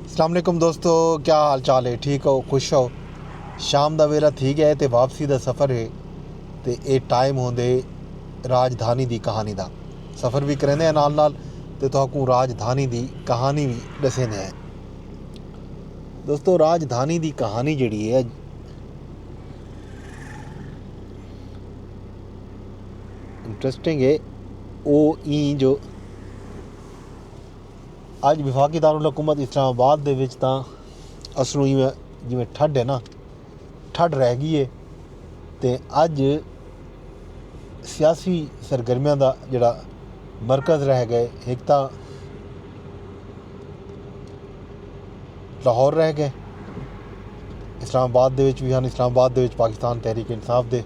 السلام علیکم دوستو کیا حال چال ہے ٹھیک ہو خوش ہو شام دا ویلا تھی گیا ہے تے واپسی دا سفر ہے تے اے ٹائم ہوندے راجدھانی دی کہانی دا سفر بھی کریندے ہیں نال نال تے تہاکوں راجدھانی دی کہانی بھی ڈسیندے ہیں دوستو راجدھانی دی کہانی جڑی ہے انٹرسٹنگ ہے او این جو اج وفاقی دارالحکومت اسلام آباد دے وچ تاں اصلوں ایویں جیویں ٹھڈ ہے نا ٹھڈ رہ گئی ہے تے اج سیاسی سرگرمیاں دا جڑا مرکز رہ گئے ہک تاں لاہور رہ گئے اسلام آباد دے وچ وی ہن اسلام آباد دے وچ پاکستان تحریک انصاف دے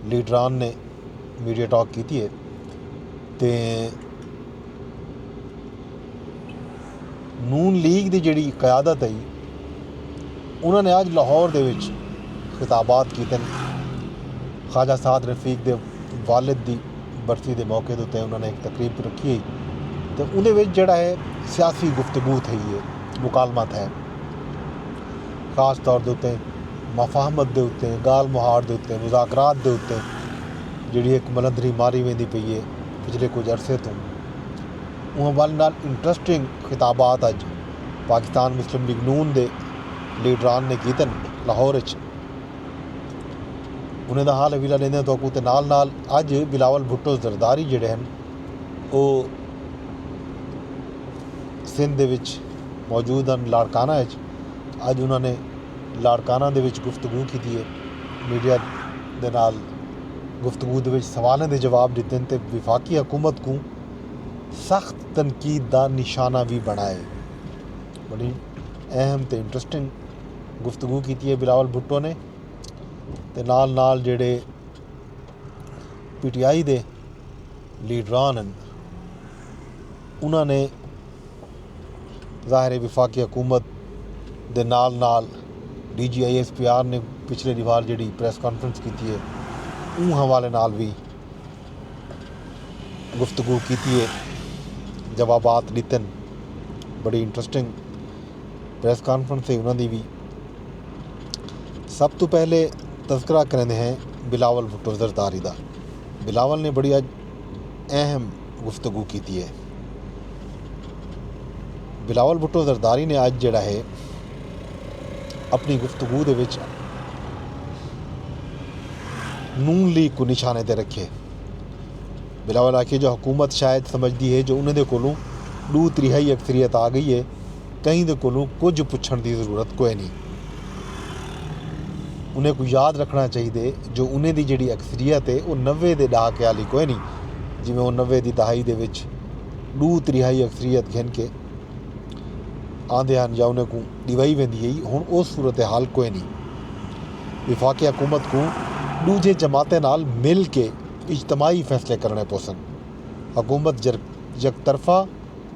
لیڈران نے میڈیا ٹاک کیتی ہے تے نون لیگ دی جیڑی قیادت ہئی انہاں نے اج لاہور دے وچ خطابات کیتے ہیں خواجہ سعد رفیق دے والد دی برسی دے موقع تے انہاں نے ایک تقریب رکھی ہے تو انہیں وچ جڑا ہے سیاسی گفتگو تھئی ہے مکالمہ تھا خاص طور دے اتنے مفاہمت دے اتنے گال مہار دے اتنے مذاکرات دے اتنے جڑی ایک ملندری ماری ویندی پئی ہے پچھلے کجھ عرصے توں اوں حوالے نال انٹرسٹنگ خطابات اج پاکستان مسلم لیگ نون دے لیڈران نے کیتے ہن لاہور اچ انہیں دا حال حویلہ لیندے تو تے نال نال اج بلاول بھٹو زرداری جڑے ہیں او سندھ دے وچ موجود ہیں لاڑکانہ اچ اج انہوں نے لاڑکانہ دے وچ گفتگو کیتی ہے میڈیا دے نال گفتگو دے وچ سوالیں دے جواب ݙتن تے وفاقی حکومت کوں سخت تنقید دا نشانہ وی بݨائے۔ وݙی اہم تے انٹرسٹنگ گفتگو کیتی اے بلاول بھٹو نے تے نال نال جیڑھے پی ٹی آئی دے لیڈران ہن انہاں نے ظاہر ہے وفاقی حکومت دے نال نال D G I S P R نے پچھلے ڈیوار جیڑی پریس کانفرنس کیتی ہے اوں حوالے نال وی گفتگو کیتی ہے جوابات ڈتن بڑی انٹرسٹنگ پریس کانفرنس ہے انہوں دی بھی سب تو پہلے تذکرہ کریں ہیں بلاول بھٹو زرداری دا بلاول نے بڑی اہم گفتگو کیتی اے۔ بلاول بھٹو زرداری نے اج جیڑھا ہے اپنڑی گفتگو دے وچ نون لیگ کوں نشانے تے رکھیے۔ بلاول آکھیے جو حکومت شاید سمجھدی ہے جو انہاں دے کولوں ڈو تریہائی اکثریت آ گئی ہے کہیں دے کولوں کجھ پچھݨ دی ضرورت کوئے نی۔ انہیں کوں یاد رکھݨا چاہیدے جو انہیں دی جیڑھی اکثریت ہے او نوے دے ݙہاکے آلی کوئے نی جیویں او نوے دی دہائی دے وچ ݙو تریہائی اکثریت گھن کے آندے ہن یا انہیں کوں ݙیوائی ویندی ہئی ہݨ او صورتحال کوئے نی۔ وفاقی حکومت کوں ݙوجھے جماعتیں نال مل کے اجتماعی فیصلے کرݨے پوسن۔ حکومت یک طرفہ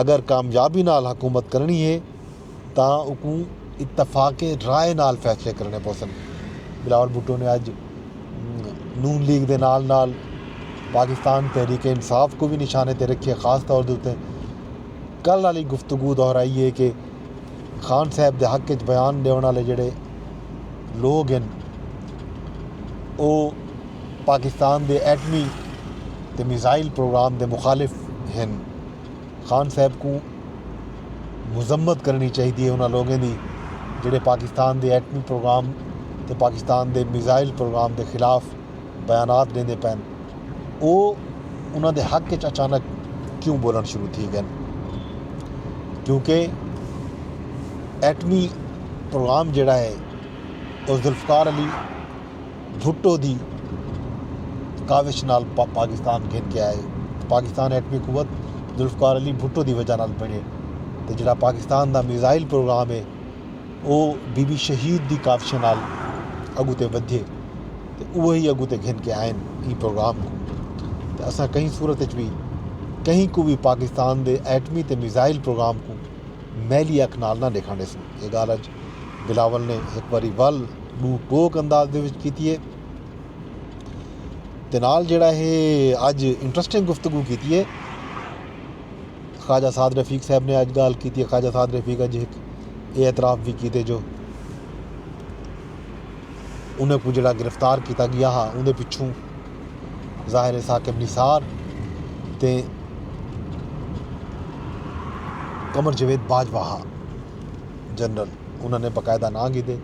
اگر کامیابی نال حکومت کرݨی ہے تاں اکوں اتفاق رائے نال فیصلے کرݨے پوسن، بلاول بھٹو نے اڄ نون لیگ دے نال نال پاکستان تحریک انصاف کوں وی نشانے تے رکھیے خاص طور دے اتے کل آلی گفتگو دہرائی ہے کہ خان صاحب دے حق اچ بیان ݙیوݨ آلے جیڑھے لوگ ہن او پاکستان دے ایٹمی تے میزائل پروگرام دے مخالف ہن۔ خان صاحب کوں مذمت کرنڑی چاہیدی اے انہاں لوگاں دی جیہڑے پاکستان دے ایٹمی پروگرام تے پاکستان دے میزائل پروگرام دے خلاف بیانات ڈیندے پئن او انہاں دے حق وچ اچانک کیوں بولنڑ شروع تھی گئن کیونکہ ایٹمی پروگرام جیہڑا اے او ذوالفقار علی بھٹو دی کاوش نال پاکستان گھن کے آئے پاکستان ایٹمی قوت ذوالفقار علی بھٹو دی وجہ نال بنے تے جڑا پاکستان دا میزائل پروگرام ہے او بی بی شہید دی کاوشیں نال اگو تے ودھیے تے اوہی اگو تے گھن کے آئن ایں پروگرام کو تے اساں کہیں صورت اچ وی کہیں کو وی پاکستان دے ایٹمی تے میزائل پروگرام کو میلی اکھ نال نہ ڈیکھن ڈیسوں اے گال اج بلاول نے ہک واری ول ݙو ٹوک انداز دے وچ کیتی ہے تے نال جیڑھا ہے اج انٹرسٹنگ گفتگو کیتی ہے خواجہ سعد رفیق صاحب نے اج گال کیتی ہے خواجہ سعد رفیق اج ہک اے اعتراف بھی کیتے جو انہیں کو جڑا گرفتار کیتا گیا ہا اندے پچھوں ظاہر ثاقب نثار تے قمر جوید باجوہ ہا جنرل انہاں نے باقاعدہ ناں گھدے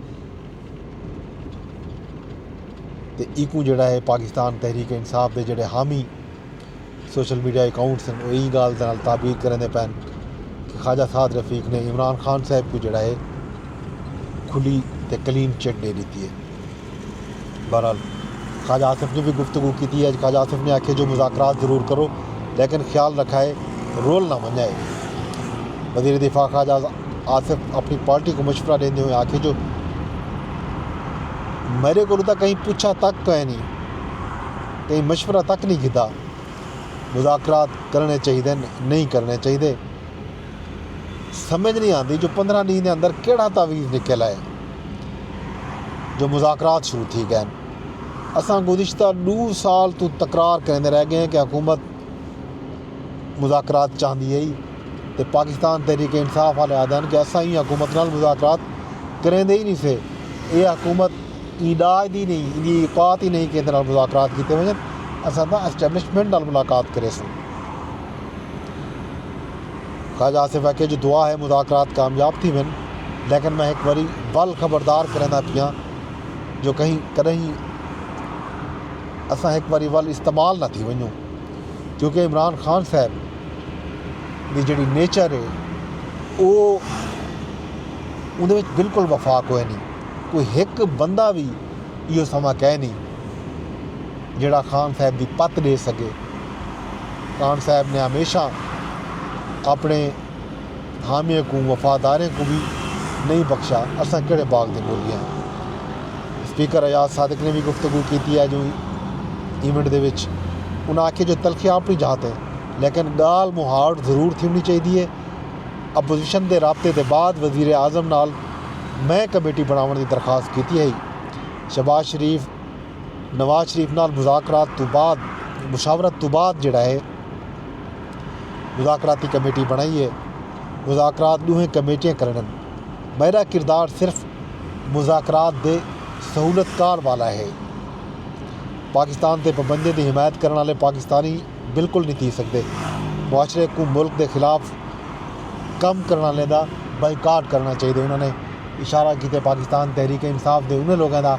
تے ایکوں جڑا ہے پاکستان تحریک انصاف دے جڑے حامی سوشل میڈیا اکاؤنٹس ہیں وہ یہی گال دنال تعبیر کریں دے پین کہ خواجہ سعد رفیق نے عمران خان صاحب کو جڑا ہے کھلی تے کلین چٹ دے دیتی ہے بہرحال خواجہ آصف نے وی گفتگو کیتی ہے اج خواجہ آصف نے آکھیا جو مذاکرات ضرور کرو لیکن خیال رکھائے رول نہ ونجائے۔ وزیر دفاع خواجہ آصف اپنی پارٹی کوں مشورہ ڈیندے ہوئیں آکھیا جو میڈے کولوں تاں کہیں پچھا تک کائے نی کہیں مشورہ تک نی گھدا مذاکرات کرنڑے چاہیدن نئیں کرنڑے چاہیدے۔ سمجھ نہیں آندی جو پندرہ ڈینہ دے اندر کیڑا تعویذ نکل آئے جو مذاکرات شروع تھی گئے اساں گزشتہ دو سال تو تکرار کریندے رہ گئے ہیں کہ حکومت مذاکرات چاہندی ہے تے پاکستان تحریک انصاف والے آدھن کہ اساں ہی حکومت نال مذاکرات کریندے ہی نہیں سے اے حکومت ای ڈاج دی نہیں ان دی اوقات ہی نہیں کہ نال مذاکرات کیتے وجن اساں دا اسٹیبلشمنٹ نال ملاقات کرے سن خواجہ آصف آکھیا جو دعا ہے مذاکرات کامیاب تھیون لیکن میں ہک واری ول خبردار کریندا پیاں جو کہیں کڈہیں اساں ہک واری ول استعمال نہ تھی ونجوں کیونکہ عمران خان صاحب دی جڑی نیچر ہے او اندے وچ بالکل وفا کوئی نہیں کوئی ہک بندہ بھی ایو سما کہے نہیں جیڑا خان صاحب دی پت ڈے سکے خان صاحب نے ہمیشاں اپݨے حامیاں کوں وفاداریں کوں وی نئیں بخشا، اساں کیڑھے باغ دے مرغے ہاں۔ اسپیکر ایاز صادق نے وی گفتگو کیتی اے جو ایونٹ دے وچ۔ انہاں آکھیے جو تلخیاں اپݨی جاہ تے لیکن ڳالھ مہاڑ ضرور تھیوݨی چاہیدی اے، اپوزیشن دے رابطے دے بعد وزیراعظم نال میں کمیٹی بݨاوݨ دی درخواست کیتی ہئی، شہباز شریف، نواز شریف نال مذاکرات توں بعد مشاورت توں بعد جیڑھا ہے مذاکراتی کمیٹی بنڑائی ہے مذاکرات ڈوہیں کمیٹیاں کرنڑن میڈا کردار صرف مذاکرات دے سہولت کار والا ہے پاکستان تے پابندیاں دی حمایت کرنڑ والے پاکستانی بالکل نی تھی سگدے معاشرے کوں ملک دے خلاف کم کرنڑ والے دا بائیکاٹ کرنڑا چاہیے انہاں نے اشارہ کیتے پاکستان تحریک انصاف دے انہاں لوگاں دا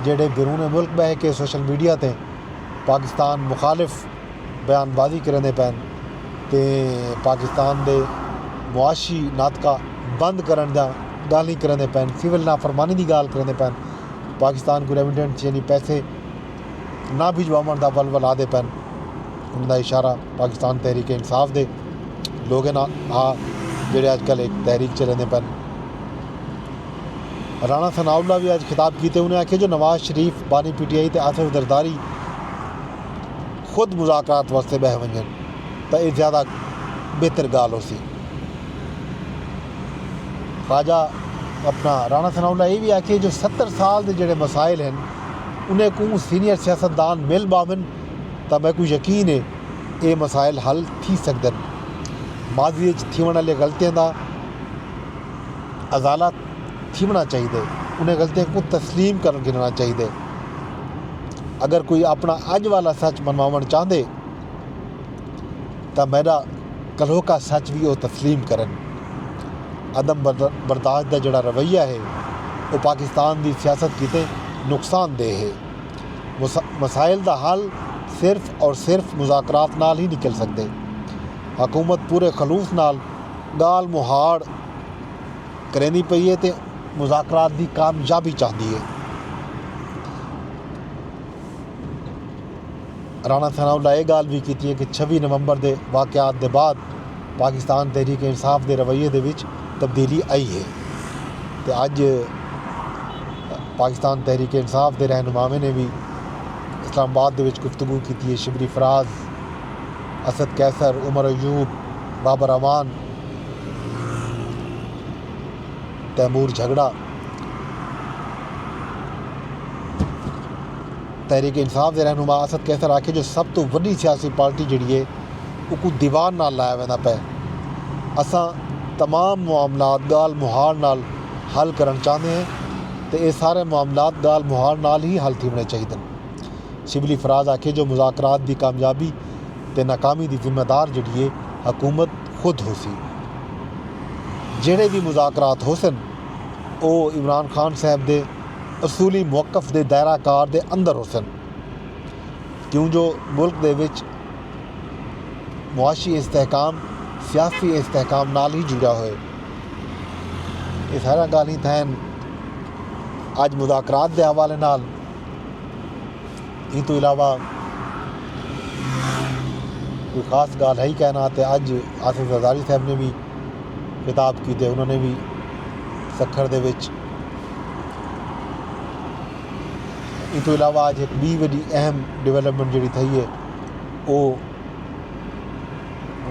جیڑھے بیرون ملک ٻہہ کے سوشل میڈیا تے پاکستان مخالف بیان بازی کریندے پئن تے پاکستان دے معاشی ناطقہ بند کرݨ دیاں ڳالھیں کریندے پئن، سول نافرمانی دی ڳالھ کریندے پئن، پاکستان کوں ریمیٹنس یعنی پیسے نہ بھجواوݨ دا ولولا دے پئن۔ انہاں دا اشارہ پاکستان تحریک انصاف دے لوگیں نال ہا جیڑھے اڄکل ہک تحریک چلیندے پئن۔ رانا ثناء اللہ وی اج خطاب کیتے انہیں آکھیا جو نواز شریف، بانی پی ٹی آئی تے آصف زرداری خود مذاکرات واسطے ٻہہ ونجن تاں اے زیادہ بہتر گالھ ہوسی۔ خواجہ اپنا رانا ثناء اللہ اے وی آکھیے جو ستر سال دے جیڑھے مسائل ہن انہیں کوں سینئر سیاست دان مل ٻاہون تاں میکوں یقین اے اے مسائل حل تھی سگدن، ماضی اچ تھیونڑ آلیاں غلطیاں دا۔ ازالہ تھیوݨا چاہیدے انہیں غلطیاں کوں تسلیم کر گھننا چاہیدے اگر کوئی اپنا اج والا سچ منواوݨ چاہندے تاں میڈا کلوکا سچ بھی او تسلیم کرن عدم برداشت دا جڑا رویہ ہے او پاکستان دی سیاست کیتے نقصان دہ ہے مسائل دا حل صرف اور صرف مذاکرات نال ہی نکل سکدے حکومت پورے خلوص نال ڳالھ مہاڑ کریندی پئی اے تے مذاکرات دی کامیابی چاہندی اے، رانا ثناء اللہ اے ڳالھ وی کیتی کہ چھوی نومبر دے واقعات دے بعد پاکستان تحریک انصاف دے رویے دے وچ تبدیلی آئی اے تے اڄ پاکستان تحریک انصاف دے رہنماواں نے وی اسلام آباد دے وچ گفتگو کیتی اے۔ شبلی فراز۔ اسد قیصر، عمر ایوب، بابر اعوان، تیمور جھگڑا، تحریک انصاف دے رہنما اسد قیصر آکھیا جو سب توں وݙی سیاسی پارٹی جیڑھی اے اوکوں دیوار نال لایا ویندا پئے، اساں تمام معاملات ڳالھ مہاڑ نال حل کرݨ چاہندے ہیں تے اے سارے معاملات ڳالھ مہاڑ نال ہی حل تھیوݨے چاہیدن۔ شبلی فراز آکھیے جو مذاکرات دی کامیابی تے ناکامی دی ذمہ دار جیڑھی اے حکومت خود ہوسی، جیڑھے وی مذاکرات ہوسن او عمران خان صاحب دے اصولی موقف دے دائرہ کار دے اندر ہوسن کیوں جو ملک دے وچ معاشی استحکام سیاسی استحکام نال ہی جڑیا ہوئے۔ اے ساریاں گالھیں تھئن اج مذاکرات دے حوالے نال۔ ایں توں علاوہ کوئی خاص ڳالھ ہئی کائنا تے اڄ آصف زرداری صاحب نے وی خطاب کیتے انہاں نے وی سکھر دے وچ ایں توں علاوہ اڄ ہک ٻی وݙی اہم ڈیولپمنٹ جیڑھی تھئی ہے او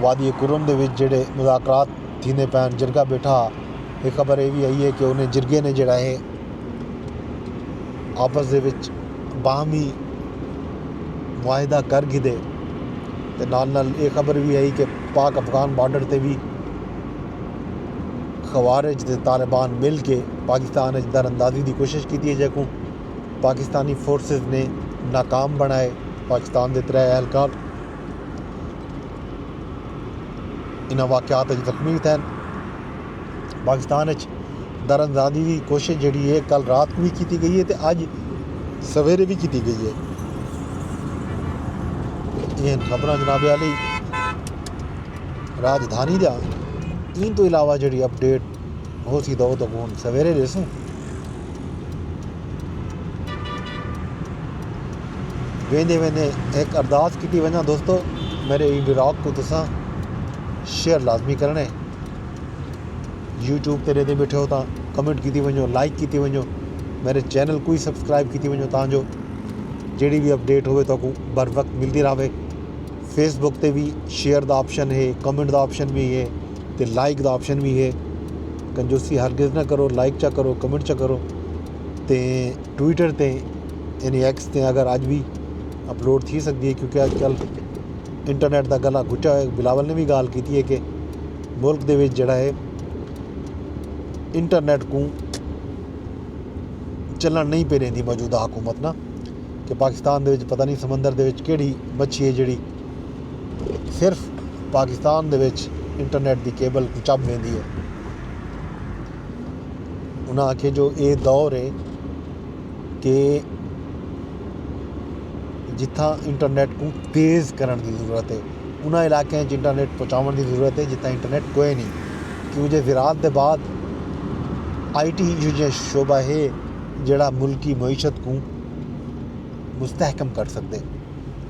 وادی کرم دے وچ جیڑھے مذاکرات تھیندے پئے ہن جرگہ بیٹھا ہا تے خبر اے وی آئی ہے کہ انہیں جرگے نے جیڑھا ہے آپس دے وچ باہمی معاہدہ کر گھدے تے نال نال اے خبر وی ہئی کہ پاک افغان بارڈر تے وی خوارج تے طالبان مل کے پاکستان اچ در اندازی دی کوشش کیتی ہے جیکوں پاکستانی فورسز نے ناکام بنڑائے پاکستان دے ترے اہلکار انہاں واقعات اچ زخمی تھئن۔ پاکستان اچ دراندازی دی کوشش جیڑھی اے کل رات کوں وی کیتی گئی اے تے اج سویرے وی کیتی گئی اے۔ اے ہن خبراں جناب عالی راجدھانی دیاں ایں توں علاوہ جیڑھی اپ ڈیٹ ہوسی تاں او تاں ہن سویرے ݙیسوں۔ ویندے ویندے ہک ارداس کیتی ونڄاں دوستو میݙے ایں ولاگ کوں تساں شیئر لازمی کرݨے۔ یوٹیوب تے رہندے بیٹھے ہو تاں کمنٹ کیتی ونجو لائک کیتی ونجو میرے چینل کو ہی سبسکرائب کیتی ونجو تاں جو جیڑی بھی اپڈیٹ ہوئے تو کو بر وقت ملتی رہے فیس بک تے بھی شیئر دا آپشن ہے کمنٹ دا آپشن بھی ہے تے لائک دا آپشن بھی ہے کنجوسی ہرگز نہ کرو لائک چا کرو کمنٹ چا کرو تے ٹویٹر تے یعنی ایکس تے اگر اج بھی اپلوڈ تھی سکدی ہے کیونکہ اج کل انٹرنیٹ دا گلا گھٹیا ہویا ہے بلاول نے وی گالھ کیتی ہے کہ ملک دے وچ جیڑھا ہے انٹرنیٹ کوں چلݨ نہیں پئے ݙیندی موجودہ حکومت نا کہ پاکستان دے وچ پتہ نہیں سمندر دے وچ کیڑھی مچھی ہے جیڑھی صرف پاکستان دے وچ انٹرنیٹ دی کیبل کوں چب ویندی ہے انہاں آکھیا جو اے دور ہے کہ جتھاں انٹرنیٹ کوں تیز کرݨ دی ضرورت ہے انہاں علاقیاں وچ انٹرنیٹ پہنچاوݨ دی ضرورت ہے جتھاں انٹرنیٹ کوئے نی کیوں جو زراعت دے بعد آئی ٹی ایہو جیہاں شعبہ ہے جیڑھا ملک دی معیشت کوں مستحکم کر سڳدے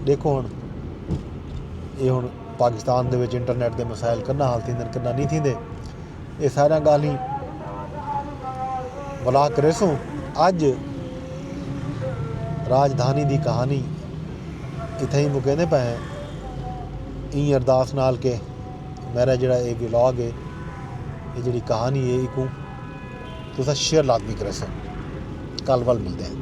ݙیکھو ہݨ ایہ ہݨ پاکستان دے وچ انٹرنیٹ دے مسائل کݙاں حل تھیندن کݙاں نی تھیندے اے ساریاں گالھیں بھلا کریسوں اج راجدھانی دی کہانی اتھے ہی مکیندے پے ہیں این ارداس نال کے میرا جڑا اے ولاگ ہے اے جڑی کہانی ہے ایکوں تسا شیئر لازمی کریسو کل ول ملتے ہیں